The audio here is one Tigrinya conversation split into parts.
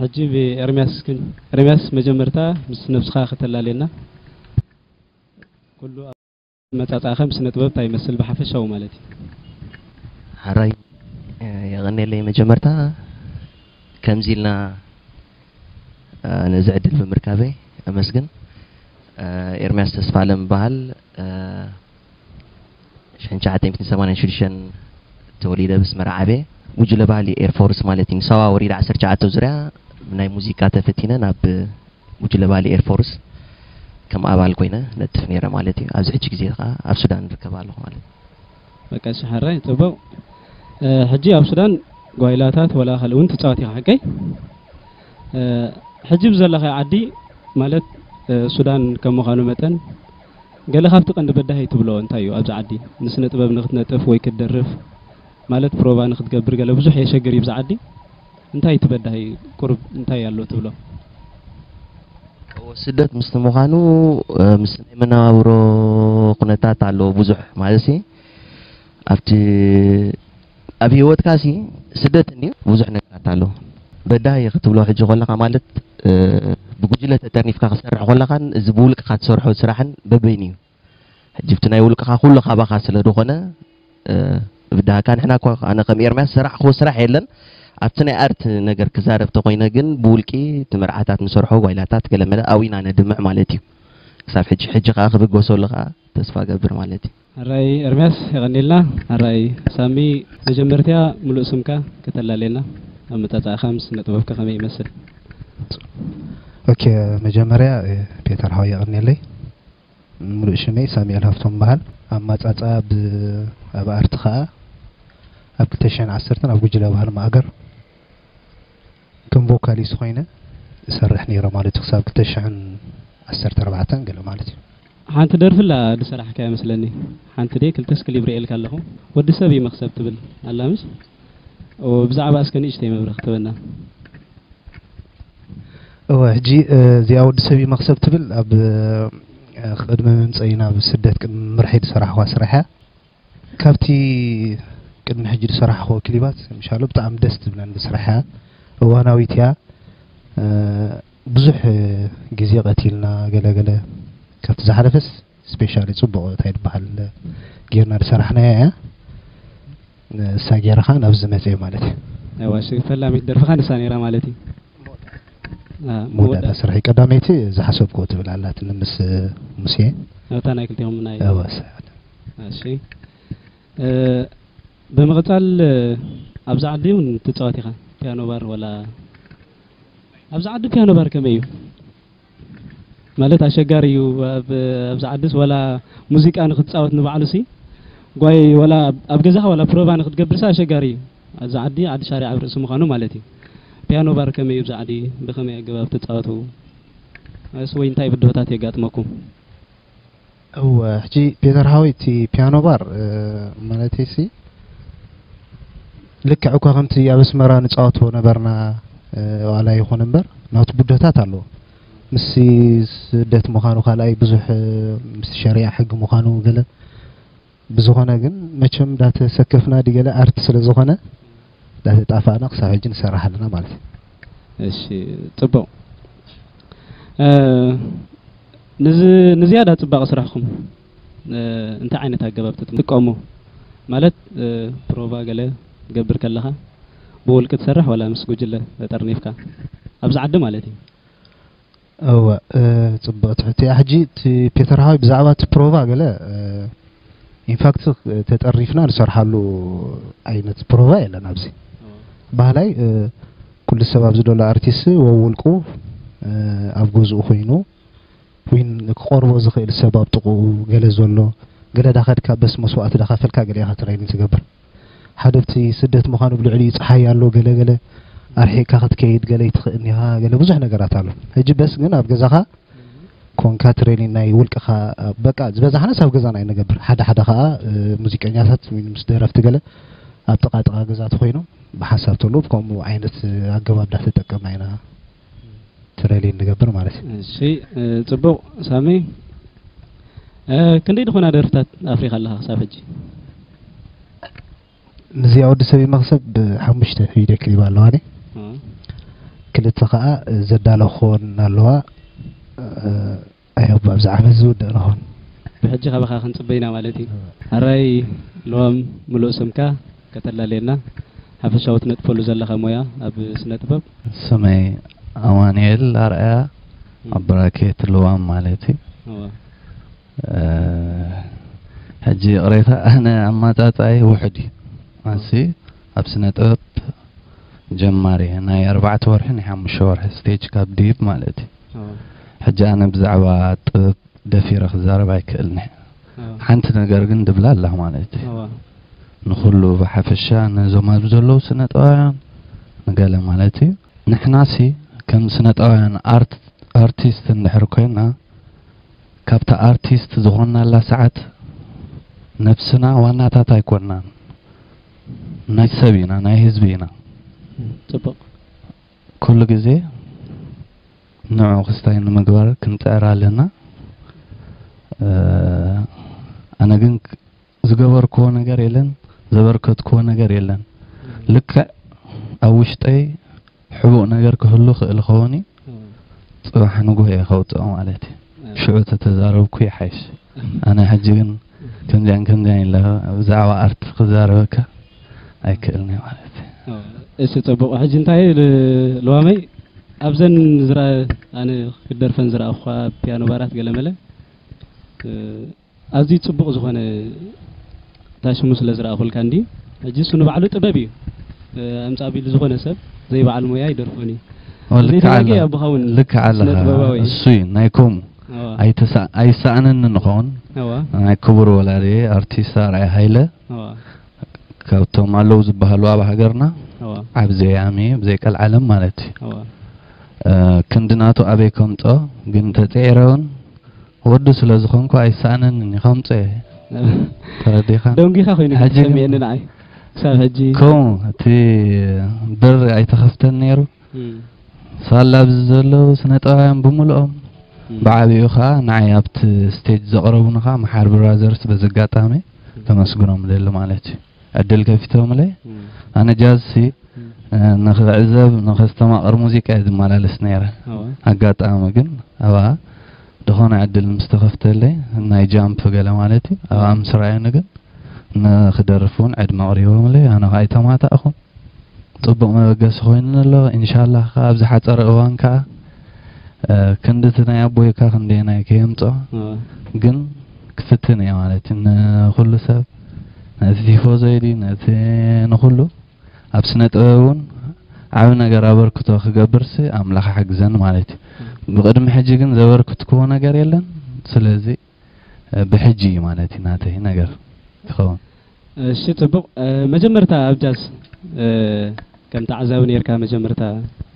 ሕጂ ብኤርምያስ ክን ኤርምያስ መጀመርታ ምስ ነብስኻ ከተላልየና ኩሉ መጻጻእኸ ምስ ስነጥበብ እንታይ ይመስል ብሓፈሻዊ ማለት እዩ ሐራይ የቀኔለይ መጀመርታ ከምዚ ኢልና ነዚ ዕድል ብምርካበይ ኣመስግን ኤርምያስ ተስፋለም ይበሃል። 1986 ተወሊደ ምስ መርዓበ ጉጅለ ባህሊ ኤርፎርስ ማለት እዩ ንሳዋ ወሪድ ዓሰርተ ትሽዓተ ዙርያ ብናይ ሙዚቃ ተፈቲነ ናብ ጉጅለ ባህሊ ኤርፎርስ ከም ኣባል ኮይነ ነጥፍ ነይረ ማለት እዩ ኣብዚ ሕጂ ግዜ ከዓ ኣብ ሱዳን ንርከብ ኣለኹ ማለት እዩ በቃ እሺ ሓራይ ጽቡቅ ሕጂ ኣብ ሱዳን ጓይላታት ወላ ካልእ እውን ትፃወት ኢኻ ሓቀይ ሕጂ ብዘለኻዮ ዓዲ ማለት ሱዳን ከም ምዃኑ መጠን ገለ ካብቲ ቀንዲ በዳሂ ትብሎ እንታይ እዩ ኣብዚ ዓዲ ንስነ ጥበብ ንክትነጥፍ ወይ ክትደርፍ ማለት ፕሮቫ ንክትገብር ገለ ብዙሕ የሸግር እዩ ብዚ ዓዲ እንታይ እዩ እቲ በዳሂ ቁሩብ እንታይ ኣሎ ትብሎ? እወ ስደት ምስቲ ምዃኑ ምስ ናይ መነባብሮ ኩነታት ኣለዎ ብዙሕ ማለትሲ ኣብቲ ኣብ ሂወትካ ሲ ስደት እንድዩ ቡዙሕ ነገራት ኣሎ በዳሂ ክትብሎ ሕጂ ኮለካ ማለት ብጉጅለ ተጠርኒፍካ ክትሰርሕ ኮለካን እዚ ብውልቅካ ትሰርሖ ስራሕን በበይኑ እዩ ሕጂ ብቲ ናይ ውልቅካ ኩሉ ካባካ ስለ ድኮነ ብዳህካ ንሕና እኳ ኣነ ከም ኤርምያስ ዝሰራሕክዎ ስራሕ የለን ኣብቲ ናይ ኣርት ነገር ክዛረብ ተኮይነ ግን ብውልቂ እቲ መርዓታት ንሰርሖ ጓይላታት ገለመለ ኣው ኢና ነድምዕ ማለት እዩ ክሳብ ሕጂ ሕጂ ከኣ ክብገሰሉ ከኣ ተስፋ ገብር ማለት እዩ ኣራይ ኤርምያስ የቐኒልና። ኣራይ ሳሚ መጀመርትያ ምሉእ ስምካ ከተላልየና ኣመጻጽኣኻ ምስ ስነጥበብካ ከመይ ይመስል? ኦኬ መጀመርያ ፔተር ሓወይ የቐንየለይ ምሉእ ሽመይ ሳሙኤል ሃፍቶም ይበሃል ኣማጻጽኣ ብ ኣብ ኣርቲ ከኣ ኣብ ክልተ ሽሕን ዓሰርተን ኣብ ጉጅለ ባህሊ ማእገር ከም ቮካሊስት ኮይነ እሰርሕ ነይረ ማለት እዩ ክሳብ ክልተ ሽሕን ዓሰርተ ኣርባዕተን ገለ ማለት እዩ። ሓንቲ ደርፊ ኣላ ድሰራሕካያ መስለኒ ሓንቲ ድየ ክልተ እስክ ሊብርኤልካ ኣለኹ ወዲ ሰብ እዩ መኽሰብ ትብል ኣላ ምስ እወ ብዛዕባ እስከ ንእሽተይ መብርህ ክትበና። እወ ሕጂ እዚኣ ወዲ ሰብ እዩ መኽሰብ ትብል ኣብ ቅድሚ ምምጸኢ ናብ ስደት ቅድሚ ምምርሐይ ድሰራሕኳ ስራሕ እያ። ካብቲ ቅድሚ ሕጂ ዝሰራሕክዎ ክሊባት ምሻሎ ብጣዕሚ ደስ ትብለኒ ስራሕ እያ እዋናዊት እያ ብዙሕ ግዜ ቀቲልና ገለገለ ካብቲ ዝሓለፈስ ስፔሻሊ ጽቡቕ እንታይ ድበሃል ጌርና ዝሰራሕናያ እያ ንሳ ጌረ ከዓ ናብዚ መፅኤ ማለት እዩ ዋሽ ፈላሚት ደርፍኻ ንሳ ነይራ ማለት እዩ መወዳእታ ስራሕ ቀዳመይቲ ዝሓሰብኩዎ ትብል ኣላትኒ ምስ ሙሴ ኣብታ ናይ ክልቲኦም ናይ እሺ ብምቕጻል ኣብዚ ዓዲ እውን ትጻወት ኢኻ ፒያኖ ባር ወላ ኣብዚ ዓዲ ፒያኖ ባር ከመይ እዩ ማለት ኣሸጋሪ እዩ ኣብዚ ዓድስ ወላ ሙዚቃ ንክትጻወት ንባዕሉሲ ጓይ ወላ ኣብ ገዛኻ ወላ ፕሮቫ ንክትገብርሲ ኣሸጋሪ እዩ ኣብዚ ዓዲ ዓዲ ሻሪዕ ኣብ ርእሲ ምዃኑ ማለት እዩ ፒያኖ ባር ከመይ እዩ ኣብዚ ዓዲ ብኸመይ ኣገባብ ትጻወቱ እስ ወይ እንታይ ብድሆታት የጋጥመኩም እወ ሕጂ ፒተር ሓወይ እቲ ፒያኖ ባር ማለተይሲ ልክዕ እኳ ከምቲ ኣብ ኣስመራ ንጻወቶ ነበርና ዋላ ይኹን እምበር ናቱ ብድሆታት ኣለዎ ምስ ስደት ምዃኑ ካልኣይ ብዙሕ ምስ ሸሪዓ ሕጊ ምዃኑ ገለ ብዝኾነ ግን መቸም ዳተሰከፍና ድዩ ገለ ኣርት ስለ ዝኾነ ዳተጣፋእና ክሳብ ሕጂ ንሰርሕ ኣለና ማለት እዩ። እሺ ጽቡቕ ንዝያዳ ጽባቐ ስራሕኩም እንታይ ዓይነት ኣገባብ ትጥቀሙ ማለት ፕሮቫ ገለ ትገብር ከለኻ ብውልቂ ትሰርሕ ዋላ ምስ ጉጅለ ጠርኒፍካ ኣብዚ ዓዲ ማለት እዩ እወ ጽብቅ ትሕት እያ ሕጂ እቲ ፔተር ሃዋይ ብዛዕባ እቲ ፕሮቫ ገለ ኢንፋክት ተጠሪፍና ንሰርሓሉ ዓይነት ፕሮቫ የለን ኣብዚ ባህላይ ኩሉ ሰብ ኣብዚ ዘሎ ኣርቲስት ወውልቁ ኣብ ገዝኡ ኮይኑ ዊን ክቆርቦ ዝኽእል ሰብ ኣብ ጥቕኡ ገለ ዘሎ ገለ ዳኸድካ በስ መስዋእቲ ዳኸፈልካ ገለ ኢኻ ትሬኒንግ ትገብር ሓደብቲ ስደት ምዃኑ ብልዕሊኡ ጸሓይ ኣሎ ገለ ገለ ኣርሒቅካ ክትከይድ ገለ ይትክእን ኢኻ ገለ ብዙሕ ነገራት ኣሎ ሕጂ በስ ግን ኣብ ገዛኻ ኮንካ ትሬኒን ናይ ውልቅኻ በቃ ዝበዛሕናስ ኣብ ገዛና እዩ ንገብር ሓደ ሓደ ከዓ ሙዚቀኛታት ምስ ደረፍቲ ገለ ኣብ ጥቃ ጥቃ ገዛ ተኮይኖም ብሓሳብ ተሎ ከምኡ ዓይነት ኣገባብ ዳተጠቀምና ኢና ትረሊን ንገብር ማለት እዩ እሺ ጽቡቕ ሳሚ ክንደይ ዝኾና ደርፍታት ኣፍሪኻ ኣለኻ ክሳብ ሕጂ ምስዚኣ ወዲ ሰብ መኽሰብ ብሓሙሽተ ቪድዮ ክሊብ ኣለዋኒ ክልተ ከዓ ዘዳለኹወን ኣለዋ ኣይ ኣቦ ኣብዚ ዓመት ዝውድእ ንኾን። ብሕጂ ካባኻ ክንጽበ ኢና ማለት እዩ። ኣራይ ለዋም ምሉእ ስምካ ከተላልየና ሓፈሻዊ ትነጥፈሉ ዘለኻ ሞያ ኣብ ስነ ጥበብ። ስመይ ኣማኑኤል ኣርኣያ ኣብ ብራኬት ለዋም ማለት እዩ። እወ ሕጂ ይቕሬታ ኣነ ኣማጻጽኣይ ውሑድ እዩ ኣንሲ ኣብ ስነ ጥበብ ጀማሪ እየ ናይ ኣርባዕተ ወርሒ ናይ ሓሙሽተ ወርሒ ስቴጅ ካብ ድሂብ ማለት እዩ። ሕጂ ኣነ ብዛዕባ ጥበብ ደፊረ ክዛረብ ኣይክእልን'የ። ሓንቲ ነገር ግን ድብላ ኣለኽ ማለት እዩ። ንኹሉ ብሓፈሻ ነዞም ኣብዚ ዘለዉ ስነጥበባውያን ንገለ ማለት እዩ። ንሕናሲ ከም ስነጥበባውያን ኣርት ኣርቲስት እንድሕር ኮይና ካብታ ኣርቲስት ዝኾንናላ ሰዓት ነብስና ዋናታት ኣይኮንናን። ናይ ሰብ ኢና ናይ ህዝቢ ኢና። ጽቡቕ። ኩሉ ግዜ ንዑ ክስታይ ንምግባር ክንጽዕር ኣለና ኣነ ግን ዝገበርክዎ ነገር የለን ዘበርከትክዎ ነገር የለን ልክዕ ኣብ ውሽጠይ ሕቡእ ነገር ክህሉ ክእል ኸውን እዩ ጽባሕ ንጉህ እየ ከውጽኦ ማለት እዩ ሽዑ ተተዛረብኩ ይሓይሽ ኣነ ሕጂ ግን ከምዚኣን ከምዚኣን ኢለ ብዛዕባ ኣርት ክዛረበካ ኣይክእልን'ዩ ማለት እዩ። እሺ ጽቡቕ ሕጂ እንታይ ልዋመይ ኣብዘን ዝረ ኣነ ክደርፈን ዝረኣኹኻ ፒያኖ ባራት ገለመለ ኣዝዩ ጽቡቕ ዝኾነ ታሽሙ ስለ ዝረኣኹልካ እንዲ ሕጂ እሱ ንባዕሉ ጥበብ እዩ ኣምጻእ ቢሉ ዝኾነ ሰብ ዘይበዓል ሞያ ይደርፎን እዩ ልክዕ ኣለኻ እሱ እዩ ናይ ከምኡ ኣይሰኣነኒ ንኸውን ናይ ክቡር ወላዲ ኣርቲስት ኣርኣያ ሃይለ ካብቶም ኣለው ዝበሃሉ ኣብ ሃገርና ዓብ ዘያሚ ብዘይ ቀልዓለም ማለት እዩ ክንዲ ናቱ ኣበይ ከምፆ ግን እንተፅዒረ እውን ወዱ ስለ ዝኾንኩ ኣይሰኣነንን እዩ ከምፀ ተረዲኻ ደንጊኻ ኮይኑ ሰሚዕኒ ንዓይ ክሳብ ሕጂ ከምኡ እቲ በሪ ኣይተኸፍተን ነይሩ ሳላ ኣብዚ ዘለዉ ስነ ጥበባውያን ብምልኦም ብዓብኡ ከዓ ንዓይ ኣብቲ ስቴጅ ዘቕረቡኒ ከዓ መሓር ብራዘርስ በዚ ኣጋጣሚ ከመስግኖም እደሊ ማለት እዩ ዕድል ከፊቶምለይ ኣነ ጃዝ ሲ ንኽዕዘብ ንኸስተማቕር ሙዚቃ እየ ዝመላለስ ነይረ ኣጋጣሚ ግን ኣብኣ ዝኾነ ዕድል ምስ ተኸፍተለይ ናይ ጃምፕ ገለ ማለት እዩ ኣብኣ ምስ ረኣዩኒ ግን ንኽደርፍ እውን ዕድመ ኣቕሪቦምለይ ኣነ ከዓ ኣይተማታእኹን ጽቡቕ መበገሲ ኮይኑኒ ኣሎ እንሻላህ ከኣ ኣብ ዝሓጸረ እዋን ከኣ ክንዲ እቲ ናይ ኣቦይካ ክንደየናይ ከየምጾ ግን ክፍትን እየ ማለት እዩ ንኹሉ ሰብ ነቲ ቲፎዞ ኢሊ ነቲ ንኹሉ ኣብ ስነ ጥበብ እውን ዓብ ነገር ኣበርክቶ ክገብርሲ ኣምላኽ ሓግዘን ማለት እዩ ብቅድሚ ሕጂ ግን ዘበርክትክዎ ነገር የለን ስለዚ ብሕጂ እዩ ማለት እዩ ናተይ ነገር ዝከውን። እሺ ጽቡቅ መጀመርታ ኣብ ጃዝ ከም ተዓዛቢ ኔርካ መጀመርታ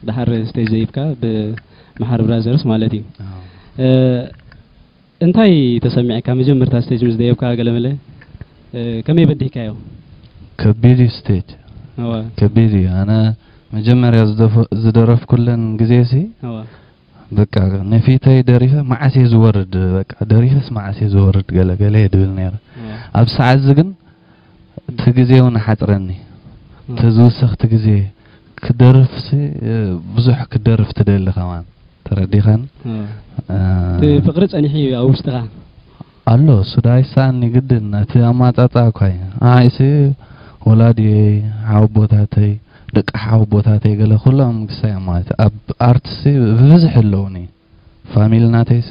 ደሓር ስቴጅ ዘይብካ ብ መሓሪ ብራዘርስ ማለት እዩ እንታይ ተሰሚዕካ መጀመርታ ስቴጅ ምስ ደየብካ ገለመለ ከመይ በዲህካዮ? ከቢድ እዩ ስቴጅ ከቢድ እዩ ኣነ መጀመርያ ዝደረፍኩለን ግዜሲ በቃ ንፊተይ ደሪፈ መዓስ እየ ዝወርድ በቃ ደሪፈስ መዓስ እየ ዝወርድ ገለ ገለ እየ ድብል ነይረ ኣብ ሰዓት እዚ ግን እቲ ግዜ እውን ሓፅረኒ እቲ ዝውሰኽቲ ግዜ ክደርፍሲ ብዙሕ ክደርፍ ትደሊ ከማን ተረዲኻኒ እቲ ፍቕሪ ፀኒሑ እዩ ኣብ ውሽጥኻ ኣሎ ሱድ ኣይሳኣኒ ግድን እቲ ኣማጻጽኣ እኳ እዩ ንዓይሲ ወላዲየይ ሓወቦታተይ ደቂ ሓወቦታተይ ገለ ኩሎም ግሳይ ኣማት ኣብ ኣርትሲ ብብዝሒ ኣለዉኒ ፋሚሊ ናተይሲ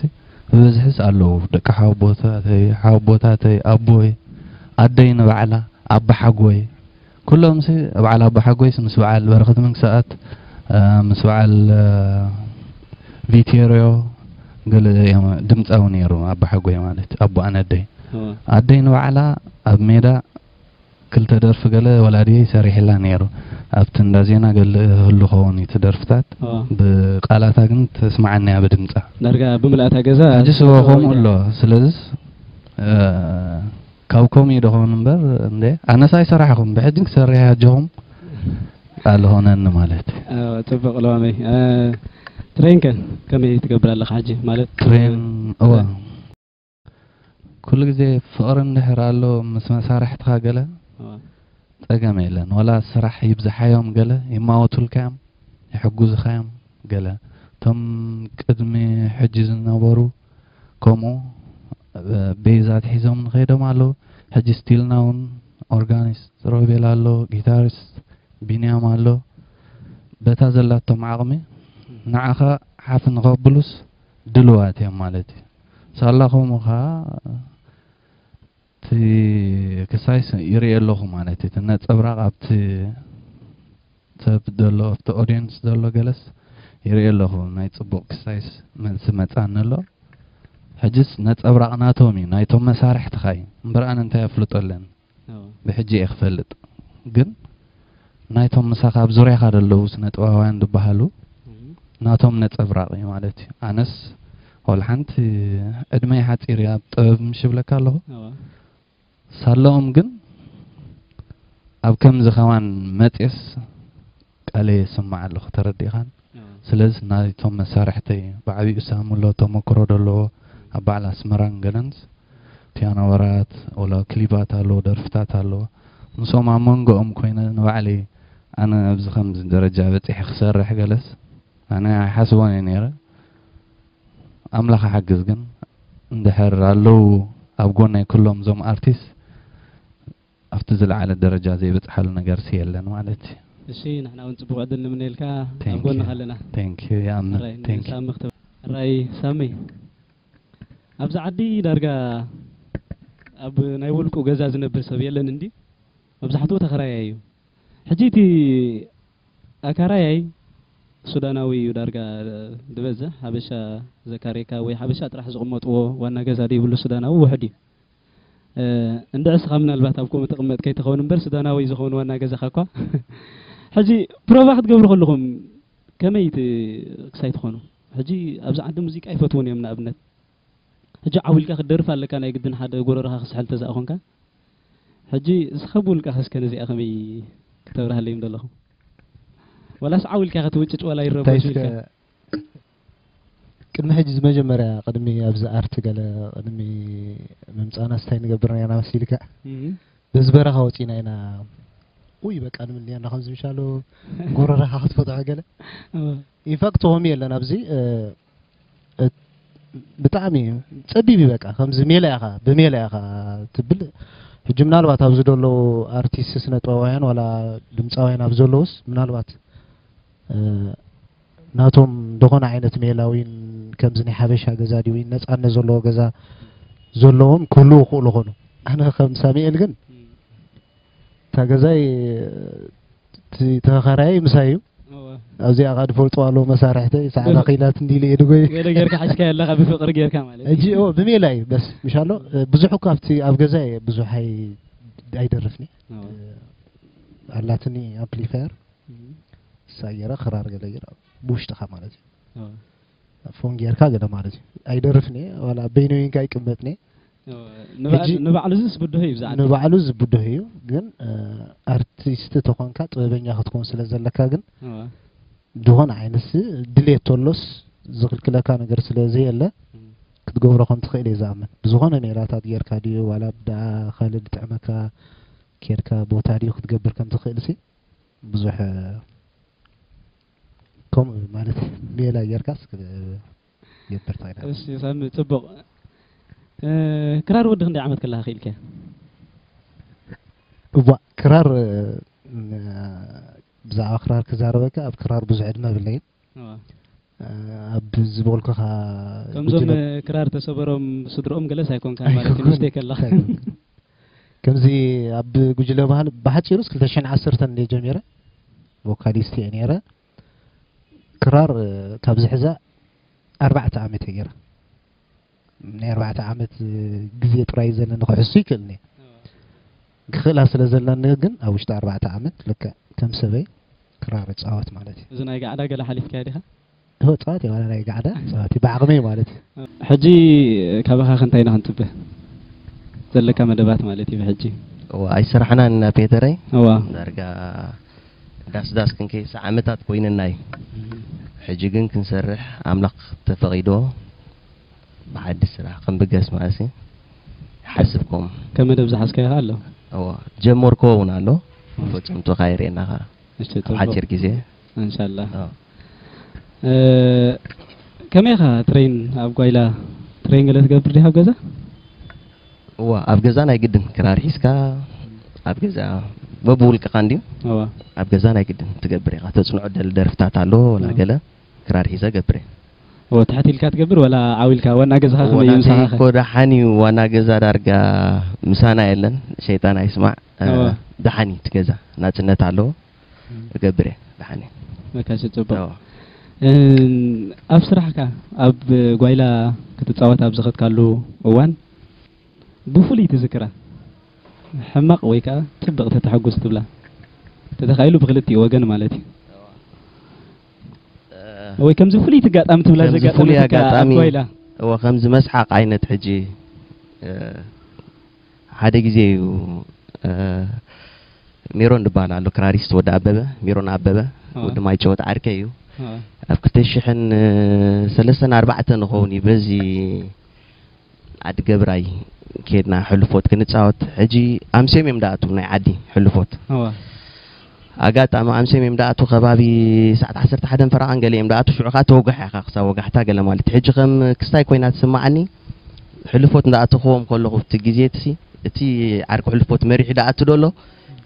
ብብዝሕስ ኣለዉ ደቂ ሓወቦታተይ ሓወቦታተይ ኣቦይ ኣደይ ንባዕላ ኣባሓጎይ ኩሎምሲ ብዓል ኣቦሓጎይስ ምስ ብዓል በረኸት መንግሰኣብ ምስ ብዓል ቪቴርዮ ገለ እዮም ድምጻዊ ነይሩ ኣቦሓጎይ ማለት ኣቦ ኣነደይ ኣደይ ንባዕላ ኣብ ሜዳ ክልተ ደርፊ ገለ ወላዲየይ ሰሪሕላ ነይሩ ኣብቲ እንዳ ዜና ገለ ህሉ ኸውን እዩ ደርፍታት ብቃላታ ግን ተስማዓኒ እያ ብድምጻ ዳርጋ ብምልኣታ ገዛ ሕጂ ስወ ከምኡ ኣሎ ስለዚ ካብ ከምኡ እዩ ድኾን እምበር እንደ ኣነስ ኣይሰራሕኹም ብሕጂ ክሰርሕ ኣጆኹም ኣልኾነኒ ማለት እዩ ጽብቕ ለዋመይ ትሬን ከ ከመይ ትገብር ኣለኻ ሕጂ ማለት ትሬን እወ ኩሉ ግዜ ፍቕሪ እንድሕር ኣሎ ምስ መሳርሕትኻ ገለ ጸገም የለን ወላ ስራሕ ይብዝሓዮም ገለ ይማወቱልካዮም ይሕጉዝኻዮም ገለ እቶም ቅድሚ ሕጂ ዝነበሩ ከምኡ ቤዝ ኣትሒዞም ንከይዶም ኣለዉ ሕጂ still now ውን ኦርጋኒስት ሮቤል ኣሎ ጊታሪስት ቢንያም ኣሎ በታ ዘላቶም ዓቕሚ ንዓኻ ሓፍ ንከብሉስ ድልዋት እዮም ማለት እዩ ሳላ ከምኡ ከኣ እቲ ክሳይ ስ ይሪኤ ኣለኹ ማለት እቲ ነጸብራቕ ኣብቲ ሰብ ዘሎ ኣብቲ ኦድየንስ ዘሎ ገለስ ይሪኤ ኣለኹ ናይ ጽቡቕ ክሳይስ መልሲ መጻኒ ኣሎ ሕጅስ ነጸብራቕ ናቶም እዩ ናይቶም መሳርሕትኻ እዩ እምበር ኣነ እንታይ ኣፍልጦ ኣለኒ ብሕጂ እየ ክፈልጥ ግን ናይቶም ምሳኻ ኣብ ዙርያኻ ዘለዉ ስነ ጥበባውያን ዝበሃሉ ናቶም ነጸብራቕ እዩ ማለት እዩ ኣነስ ወላ ሓንቲ ዕድመይ ሓጺር እያ ኣብ ጥበብ ምሽ ይብለካ ኣለኹ ሳለኦም ግን ኣብ ከምዚ ከማን መጽስ ቃለይ የስምዕ ኣለኹ ተረዲኻን ስለዝ ናይቶም መሳርሕተይ ብዓቢኡ ሳሙሎ ተሞክሮ ደለዎ ኣብ በዓል ኣስመራን ገለንስ ፒያኖ ወራት ወላ ክሊባት ኣለዎ ደርፍታት ኣለዎ ምስኦም ኣብ መንጎኦም ኮይነ ንባዕለይ ኣነ ኣብዚ ከምዚ ደረጃ በጺሐ ክሰርሕ ገለስ ኣነ ኣይሓስቦን እየ ነይረ ኣምላኽ ሓግዝ ግን እንድሕር ኣለዉ ኣብ ጎነይ ኩሎም እዞም ኣርቲስት ኣብቲ ዝለዓለ ደረጃ ዘይበጽሓሉ ነገርሲ የለን ማለት እዩ። እሺ ንሕና ውን ጽቡቅ ዕድል ንምነየልካ ኣብ ጎንካ ኣለና። Thank you ይኣምን ሕራይ Thank you። ንሳሚ ክተ ሕራይ ሳሚ ኣብዚ ዓዲ ዳርጋ ኣብ ናይ ውልቁ ገዛ ዝነብር ሰብ የለን እንድዩ መብዛሕትኡ ተከራያይ እዩ ሕጂ እቲ ኣካራያይ ሱዳናዊ እዩ ዳርጋ ድበዝሕ ሓበሻ ዘካርየካ ወይ ሓበሻ ጥራሕ ዝቅመጥዎ ዋና ገዛ ደይብሉ ሱዳናዊ ውሑድ እዩ እንድዒ እስኻ ምናልባት ኣብ ኮመ ትቕመጥ ከይትኸውን እምበር ሱዳናዊ ዝኾውን ዋና ገዛኻ እኳ ሕጂ ፕሮቫ ክትገብሩ ከለኹም ከመይ ክሳይ ትኾኑ ሕጂ ኣብዚ ዓዲ ሙዚቃ ይፈትውን እዮም ንኣብነት ሕጂ ዓው ኢልካ ክትደርፍ ኣለካ ናይ ግድን ሓደ ጎረረኻ ክስሕል ተዛእ ኮንካ ሕጂ እስኻ ብውልቃ ከስከ ነዚኣ ከመይ ክተብርሃለይ ደለኹም ወላስ ዓው ኢልካ ክትውጭጭ ወላ ይረበሹ ኢልካ ቅድሚ ሕጂ እዚ መጀመርያ ቅድሚ ኣብዚ ኣርት ገለ ቅድሚ ምምጻእና ስታይ ንገብር ኔርና መሲልካ በዚ በረኻ ወጺእና ኢና ኡይ በቃ ንብል ኔርና ከምዚ ምሻሎ ጎረረኻ ክትፈትሖ ገለ ኢንፋክት ሆሚ የለን ኣብዚ ብጣዕሚ እዩ ጸቢብ እዩ በቃ ከምዚ ሜላ ኢኻ ብሜላ ኢኻ ትብል ሕጂ ምናልባት ኣብዚ ደለዉ ኣርቲስት ስነ ጥበባውያን ዋላ ድምፃውያን ኣብ ዘለዉስ ምናልባት ናቶም ዝኾነ ዓይነት ሜላዊን ከምዚ ናይ ሓበሻ ገዛ ድዩ ወይ ነፃነት ዘለዎ ገዛ ዘለዎም ክህልው ይኽእሉ ኾኑ ኣነ ከም ሳሙኤል ግን እታ ገዛይ ተኸራያይ ምሳይ እዩ ኣብዚኣ ካ ድፈልጡ ኣለዎ መሳርሕተይ ሰዓዳ ክኢላት እንዲ ኢለ የድጎይ ገለ ጌርካ ሓሽካ ኣለካ ብፍቅሪ ጌርካ ማለት እጂ ኦ ብሜላ እዩ በስ ምሻሎ ብዙሕ እኳ ኣብቲ ኣብ ገዛ እየ ብዙሕ ኣይደርፍኒ ኣላትኒ ኣምፕሊፋየር ሳየራ ክራር ገለ ጌራ ብውሽጥኻ ማለት እዩ ፎን ጌርካ ገለ ማለት እዩ ኣይደርፍን እየ ዋላ በይነይ እንካ ይቅመጥን እየ ንባዕሉ እዚ ዝብድሆ እዩ ብዛዕባ ንባዕሉ ዝብድሆ እዩ ግን ኣርቲስት ተኾንካ ጥበበኛ ክትኮን ስለ ዘለካ ግን ዝኾነ ዓይነት ድሌት ተሎስ ዝኽልክለካ ነገር ስለ ዘየለ ክትገብሮ ከም ትኽእል እየ ዝኣምን ብዝኾነ ሜላታት ጌርካ ድዩ ዋላ ብደኣ ካልእ ዝጥዕመካ ኬድካ ቦታ ድዩ ክትገብር ከም ትኽእል ሲ ብዙሕ ከምኡ ማለት ሜላ ጌርካስ ክትገብር ትኽእል እሺ ሳሚ ጽቡቕ እ፣ ክራር ወዲ ክንደይ ዓመት ከለኻ ክኢልካያ እዋ ክራር እ፣ ብዛዕባ ክራር ክዛረበካ ኣብ ክራር ብዙሕ ዕድመ የብለይን ኣብ ዝበልኩኻ ከምዞም ክራር ተሰበሮም ስድሮኦም ገለስ ኣይኮንካ ማለት እዩ ምስቴ ከለኻ ከምዚ ኣብ ጉጅለ ባህል ብሓፂሩስ 210 እንደ ጀሚረ ቮካሊስት እየ ነይረ ክራር ካብ ዝሕዛ ኣርባዕተ ዓመት እየ ገይረ ናይ ኣርባዕተ ዓመት ግዜ ጥራይ እዩ ዘለኒ ክሕሱ ይክእል እየ ክኽእላ ስለ ዘለኒ ግን ኣብ ውሽጢ ኣርባዕተ ዓመት ልክዕ ከም ሰበይ ክራር እፃወት ማለት እዩ እዚ ናይ ጋዕዳ ገለ ሓሊፍካዮ ዲኻ እሆ ፀዋት እየ ዋላ ናይ ጋዕዳ ፀዋት እዩ ብዓቕመይ ማለት እዩ ሕጂ ካባኻ ከ እንታይ ኢና ክንጽበ ዘለካ መደባት ማለት እዩ ብሕጂ እዋ ኣይሰራሕናን ኢና ፔተረይ እዋ ዳርጋ ዳስ ዳስ ክንከይስ ዓመታት ኮይነና እዩ ሕጂ ግን ክንሰርሕ ኣምላኽ ተፈቒዶ ብሓድሽ ስራሕ ከም ብገስ መኣሲ ይሓስብ ኮም። ከም መደብ ዝሓዝካዮ ከኣ ኣሎ። እወ ጀመርክዎ ውን ኣሎ መፈጸምትኡ ከኣ የርእየና ከኣ እሺ ኣብ ጽቡቕ ሓጺር ግዜ። እንሻላ ኣዎ። እ ከመይ ኢኻ ትሬን ኣብ ጓይላ ትሬን ገለ ትገብር ዲኻ ኣብ ገዛ? እወ ኣብ ገዛ ናይ ግድን ክራር ሒዝካ ኣብ ገዛ በብውልቅኻ እንድዩ እወ። ኣብ ገዛ ናይ ግድን ትገብር ኢኻ ተጽንዖ ደል ደርፍታት ኣሎ ወላ ገለ። ክራር ሒዘ ገብር እየ። ኦህ ትሕት ኢልካ ትገብር ወላ ዓው ኢልካ ዋና ገዛኻ ከመይ እዩ ምሳኻ ከ? ዋናተይ እኮ ደሓን እዩ ዋና ገዛ ዳርጋ ምሳና የለን ሸይጣን ኣይስማዕ እወ። ደሓን እዩ እቲ ገዛ ናጽነት ኣለዎ እገብር እየ ደሓን እዩ። መካሲ ጽቡቅ እወ። እም፣ ኣብ ስራሕካ ኣብ ጓይላ ክትጻወት ኣብ ዝኸድካሉ እዋን ብፍሉይ ትዝክራ ሕማቕ ወይ ከኣ ጽብቕቲ ተሐጉስ ትብላ ተተኻኢሉ ብኽልቲኡ ወገን ማለት እዩ። ወይ ከምዚ ፍሉይ ትጋጣሚ ትብላ ከምዚ ዘጋጠመትካ ፍሉይ ኣብ ኣጋጣሚ ጓይላ? እወ ከምዚ መስሓቕ ዓይነት ሕጂ እ፣ ሓደ ግዜ እዩ እ፣ ሜሮን ዝበሃል ኣሎ ክራሪስት ወዲ ኣበበ ሜሮን ኣበበ አዎ። ወዲ ማይጨወት ዓርከይ እዩ ኣብ ክልተ ሽሕን ሰለስተን ኣርባዕተን ንኸውን እዩ በዚ ኣድገብራይ ኬድና ሕልፎት ክንጻወት ሕጂ ኣምስዮም እዮም ድኣትዉ ናይ ዓዲ ሕልፎት ኣጋጣሚ ኣምስዮም እዮም ድኣትዉ ከባቢ ሰዓት ዓሰርተ ሓደን ፈረቓን ገለ እዮም ድኣትዉ ሽዑ ከኣ ተወጋሕ ኢኻ ክሳብ ወጋሕታ ገለ ማለት ሕጂ ከም ክስታይ ኮይና ትስምዓኒ ሕልፎት እንዳኣተኹዎም ከለኹ እቲ ግዜ እቲ ዓርኪ ሕልፎት መሪሑ ድኣቱ ዶ ኣሎ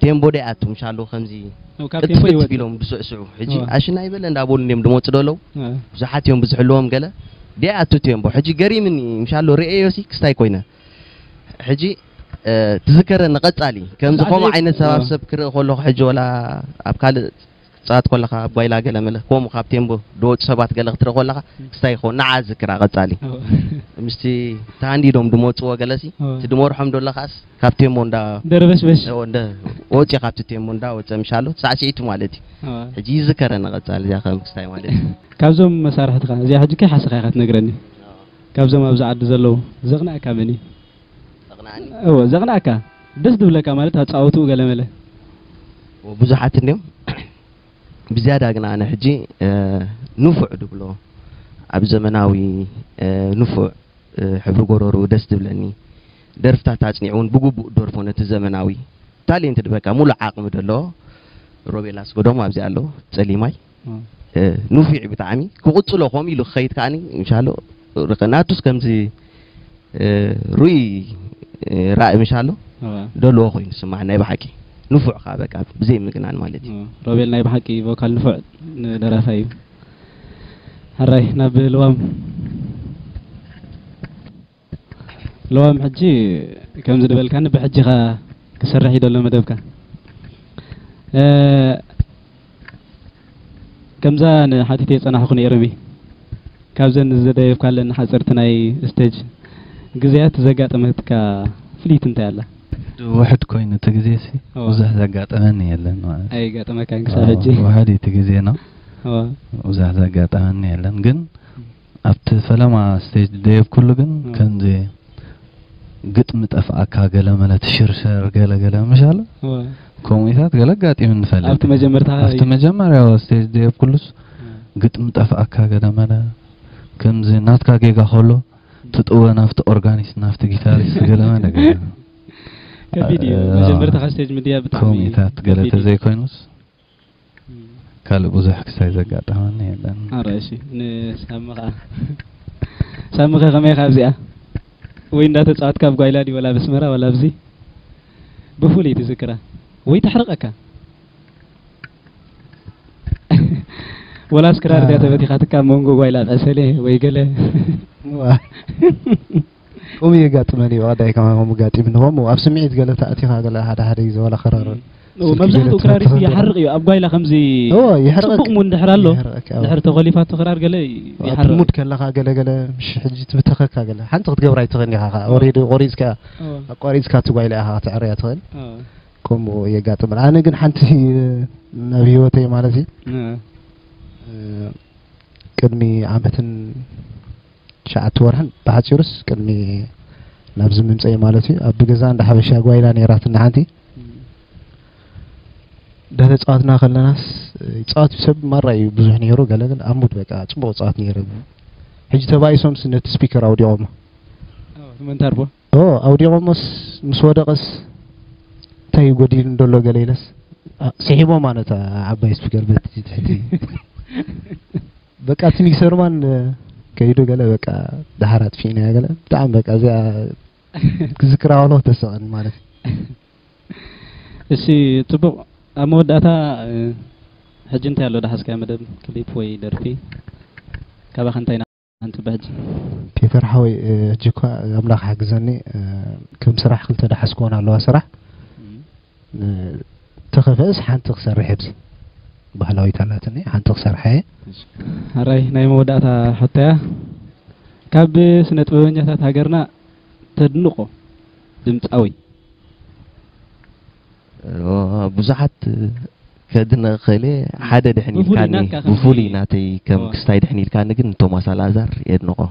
ቴምቦ ደይ ኣቱም ሻሎ ከምዚ ኖ፣ ካብ ቴምቦ ቅጥፍት ይወጽእ ቢሎም ድስዕስዑ ሕጂ እወ። ኣሽና ኣይበለ እንዳበሉ እንዲም ድመጹ ደለው እወ። ብዙሓት እዮም ብዝሕልዎም ገለ ደይ ኣቱ ቴምቦ ሕጂ ገሪምኒ ምሻሎ ርእየዮሲ ክስታይ ኮይነ ሕጂ እ፣ ትዝከረኒ ቀጻሊ ከምዚ ከምዚ ከምኡ ዓይነት ሰባብ እወ። ሰብ ክርኢ ከለኹ ሕጂ ወላ ኣብ ካልእ ክትጻወት ኮለኻ ኣብ ጓይላ ገለ መለ ኮሙ ካብ ቴምቦ ድወጹ ሰባት ገለ ክትርኢ ኮለኻ ክስታይ ይኸውን ንዓ ዝክራ ቀጻሊ ምስቲ ተሃንዲዶም ድመጽዎ ገለሲ እቲ ድመርሖም ደሎ ከኣስ ካብ ቴምቦ እንዳ ደርበሽበሽ እንደ ወጺ ካብቲ ቴምቦ እንዳ ወጸ ምሻሎ ሳዕሲዒቱ ማለት እዩ ሕጂ ይዝከረ ንቀጻሊ እዚያ ከም ክስታይ ማለት እዩ ካብዞም መሳርሕትኻ እዚኣ ሕጂ ከይሓሰኻ ኢኻ ትነግረኒ ካብዞም ኣብዚ ዓዲ ዘለዉ ዘቕናኣካ መን እዩ እወ ዘቅንኣካ ደስ ድብለካ ማለት ኣጻውትኡ ገለ መለ ብዙሓት እንድዮም ብዝያዳ ግን ኣነ ሕጂ ንፉዕ ድብሎ ኣብ ዘመናዊ ንፉዕ ሕብሪ ጎረሩ ደስ ድብለኒ ደርፍታት ኣጽኒዑ እውን ብግቡእ ደርፎ ነቲ ዘመናዊ ታሌንትድ በቃ ሙሉእ ዓቅሚ ደለዎ ሮቤል ኣስገዶም ኣብዚ ኣሎ ጸሊማይ ንፉዕ እዩ ብጣዕሚ ክቕጽሎ ከምኡ ኢሉ ክኸይድ ከኣ ምሻሎ ናቱስ ከምዚ ርኡይ ራኢ ምሻሎ ደልዎ ኮይኑ ስማዕ ናይ ብሓቂ ንፉዕ ከኣ በቃ ብዘይ ምግናን ማለት እዩ ሮቤል ናይ ብሓቂ ቮካል ንፉዕ ደራፋይ እዩ ሕራይ ናብ ልዋም ለዋም ሕጂ ከምዚ ድበልካኒ ብሕጂኻ ክስራሕ እዩ ደሎ መደብካ ከምዛ ንሓቲተይ ጸናሕኩ ነይርሚ ካብዘን ዝደየብካለን ሓጸርቲ ናይ ስተጅ ግዜያት ዘጋጠመትካ ፍልይቲ እንታይ ኣላ ውሕድ ኮይኑ እቲ ግዜ ሲ ብዙሕ ዘጋጠመኒ የለን ማለት ኣይጋጠመካን ክሳብ ሕጂ ውሕድ እቲ ግዜ ነው ብዙሕ ዘጋጠመኒ የለን ግን ኣብቲ ፈለማ ስቴጅ ዝደየብኩሉ ግን ከምዚ ግጥሚ ጠፍኣካ ገለመለ ትሽርሸር ገለ ገለ ምሽ ኣሎ ከምኡታት ገለ ኣጋጢሙ ንፈልጥ ኣብቲ መጀመርታ ኣብቲ መጀመርያ ስቴጅ ደየብኩሉስ ግጥሚ ጠፍኣካ ገለመለ ከምዚ ናትካ ጌጋ ከሎ ትጥወ ናብቲ ኦርጋኒስት ናብቲ ጊታሪስት ገለመለ ከቢድ እዩ መጀመርታ ካብ ስቴጅ ምድያ ብጣዕሚ ከምኡታት ገለ ተዘይኮይኑስ ካልእ ብዙሕ ክሳይ ዘጋጠመኒ የለን። ኣረ እሺ ንሳሚ ከኣ ሳሚ ከ ከመይ ኢኻ ኣብዚኣ ወይ እንዳተጻወትካ ኣብ ጓይላ ድዩ ወላ በስመራ ወላ ኣብዚ ብፍሉይ ትዝክራ ወይ ተሕርቀካ ወላስ ክራር ድያ ተበቲኻትካ ኣብ መንጎ ጓይላ ዕሰለ ወይ ገለ ከምኡ የጋጥመን እዩ ኣዳይ ከማን ከምኡ ጋጢምኒ ከምኡ ኣብ ስምዒት ገለ ተኣቲኻ ገለ ሓደ ሓደ ግዜ ዋላ ክራር መብዛሕትኡ ክራር ይሓርቕ እዩ ኣብ ጓይላ ከምዚ ጽቡቕ ሙድ እንድሕር ኣሎ ድሕር ተኾሊፋቶ ክራር ገለ ይሓርቕ ሙድ ከለኻ ገለ ገለ ምሽ ሕጂ ትብተኸካ ገለ ሓንቲ ክትገብራ ኣይትኽእልን ኢኻ ከዓ ኦሬዲ ቆሪጽካ ኣቋሪጽካ እቲ ጓይላ ኢኻ ክትዕርያ ትኽእል ከምኡ የጋጥመን ኣነ ግን ሓንቲ ናብ ህይወተይ ማለት እዩ ቅድሚ ዓመትን ትሽዓተ ወርሕን ብሓጺሩስ ቅድሚ ናብዚ ምምጸኤ ማለት እዩ ኣብ ገዛ እንዳ ሓበሻ ጓይላ ነይራትና ሓንቲ ደለ ጸዋትና ከለናስ ጸዋት ሰብ ማራ እዩ ብዙሕ ነይሩ ገለ ገለ ኣብ ሙድ በቃ ጽቡቕ ጸዋት ነይሩ ሕጂ ተባኢሶምስ ነቲ ስፒከር ኣውዲቖሞ መንታርቦ ኦ ኣውዲቖሞስ ምስ ወደቐስ እንታይ እዩ ጎዲሉ እንደሎ ገለ ኢለስ ስሒቦማ ነታ ዓባይ ስፒከር በቲ ትሕቲ በቃ እቲ ሚክሰር ማን ከይዱ ገለ በቃ ደሓር ኣጥፊእናያ ገለ ብጣዕሚ በቃ እዚኣ ክዝክራ ከለኹ ተስቐኒ ማለት እሺ ጽቡቕ ኣብ መወዳእታ ሕጂ እንታይ ኣሎ ዳሓስካዮ መደብ ክሊፕ ወይ ደርፊ ካባኻ እንታይ ኢና ንጽበ ሕጂ ፒተር ሓወይ ሕጂ እኳ ኣምላኽ ሓግዘኒ ከም ስራሕ ክልተ ዳሓስክወን ኣለዋ ስራሕ ንተኸፈእስ ሓንቲ ክሰርሕ እየ ባህላዊት ኣላትኒ ሓንቲ ክሰርሓ እየ ኣራይ ናይ መወዳእታ ሕቶያ ካብ ስነ ጥበበኛታት ሃገርና ተድንቆ ድምፃዊ ብዙሓት ከድነ ከሌ ሓደ ድሕን ኢልካኒ ብፍሉይ ናተይ ከም ክስታይ ድሕን ኢልካኒ ግን ቶማስ ኣልኣዛር የድንቆ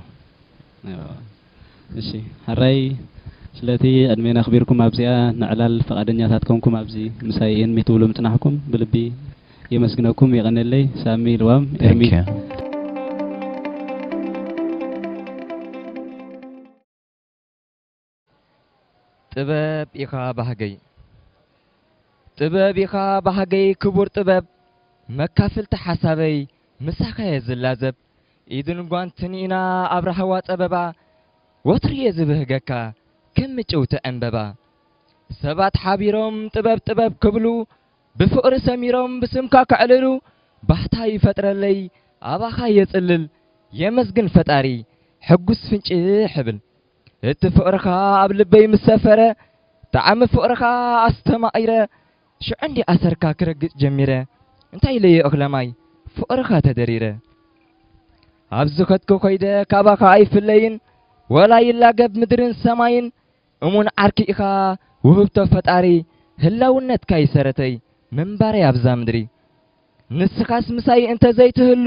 እሺ ሐራይ ስለቲ ዕድሜና ኣኽቢርኩም ኣብዚኣ ንዕላል ፍቓደኛታት ኮንኩም ኣብዚ ምሳይ እን ትብሉ ምጽናሕኩም ብልቢ የመስግነኩም የቐኔለይ ሳሚ ልዋም ኤርሚ ጥበብ ኢኻ ባህገይ ጥበብ ኢኻ ባህገይ ክቡር ጥበብ መካፍልቲ ሓሳበይ ምሳኻየ ዝላዘብ ኢድን ጓንትን ኢና ኣብ ራህዋ ጸበባ ወትሩ'የ ዝብህገካ ከም ምጭውቲ ዕንበባ ሰባት ሓቢሮም ጥበብ ጥበብ ክብሉ ብፍቕሪ ሰሚሮም ብስምካ ከዕልሉ ባህታ ይፈጥረለይ ኣባኻ የጽልል የመስግን ፈጣሪ ሕጉስ ፍንጭሕ እብል እቲ ፍቕርኻ ኣብ ልበይ ምስ ሰፈረ ጣዕሚ ፍቕርኻ ኣስተማቒረ ሽዑ እንድየ ኣሰርካ ክረግጽ ጀሚረ እንታይ ኢለዮ እኽለማይ ፍቕርኻ ተደሪረ ኣብ ዝኸድኩ ከይደ ካባኻ ኣይፍለይን ወላ ይላገብ ምድርን ሰማይን እሙን ዓርኪ ኢኻ ውህብቶ ፈጣሪ ህላውነትካ ይሰረተይ ምንባረይ ኣብዛ ምድሪ ንስኻስ ምሳይ እንተዘይትህሉ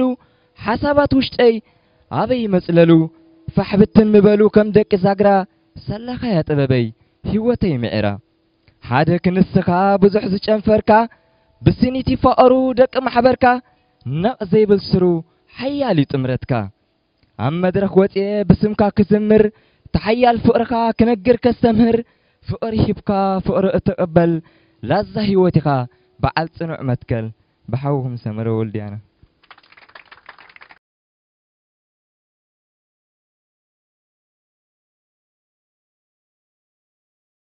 ሓሳባት ውሽጠይ ኣበይ ይመጽለሉ ፋሕብትን ምበሉ ከም ደቂ ዛግራ ሰላኻያ ጥበበይ ህይወተይ ምዒራ ሓደ ክንስኻ ብዙሕ ዝጨንፈርካ ብስኒት ይፋቐሩ ደቂ ማሕበርካ ነቕ ዘይብል ስሩ ሓያል እዩ ጥምረትካ ኣብ መድረኽ ወፅኤ ብስምካ ክዝምር ተሓያል ፍቕርኻ ክነግር ከስተምህር ፍቕሪ ሂብካ ፍቕሪ እትቕበል ላዛ ህይወት ኢኻ በዓል ፅኑዕ መትከል ብሓውኹም ሰመረ ወልድያና